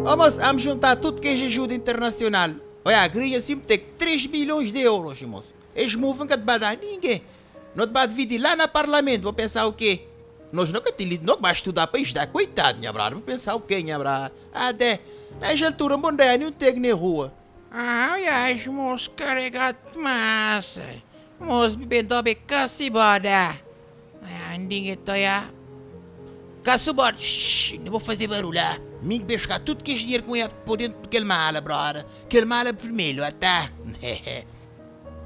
Irmons, am juntá tudu kes ajuda internasional. Oiá, igreja sim tek 3 milhons de euros, irmons. Es move nka ta ba dá ninguen. No ta ba dividi lá na parlamentu. Bo pensá okê? Nos no ka ten lidra, no ka ba studá pa ajudá. Koitadu, nha brada, bo pensá okê, nha brada? Adé, na es altura, bo no ta oiá ninhun teg ne rua. Ai ai Mos karega dmas ai Mos bibe dobe ka siboda ai ai Ndinge toia ka siboda shh Nda bo faze barul ah Mi ki be xka tut kes dinheru ki moia po dentu di kel mala brother Kel mala vermelhu ah ta hehe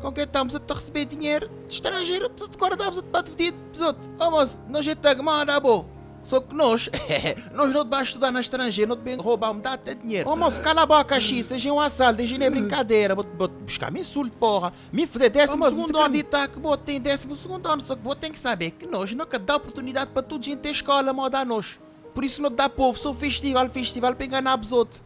Kon ke ta bzot ta resebe dinheru di stranjeru Bzot gora ta bzot bate fdidu bzot Ô mos nda jeta ki moda bo. Só ki nôs, hehe, nôs nô ta ba studá na stranjê, nô ta ben robá, m dá atê dinhêr. Ô môs, kala bôka xi, sa gen un asal, dê gen nê brinkadera, bô ta buská mi insultu pôra. Mi fazê désimu sugundu anu di ta ki bô ten désimu sugundu anu, só ki bô ten ki sabê ki nôs nô ka dá oportunidadi pa tudu gen ten skola móda nôs. Pur isu nô ta dá povu sô festival, festival pa enganá abus ôtu.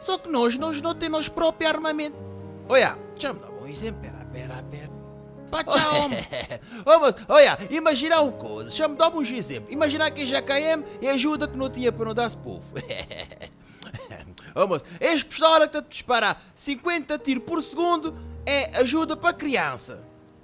Só ki nos, nos no ten nos propi armamentu. Oiá, txam da bon izénplu, pera, pera, pera. Pa txa om. Ô mos, oiá, imajiná un koza, txam da-m un xizénplu. Imajiná ki es dja kaem i ajuda ki no tinha pa no da-s povu. Ô mos, es pistola ki ta dispará 50 tiru pur sugundu é ajuda pa kriansa.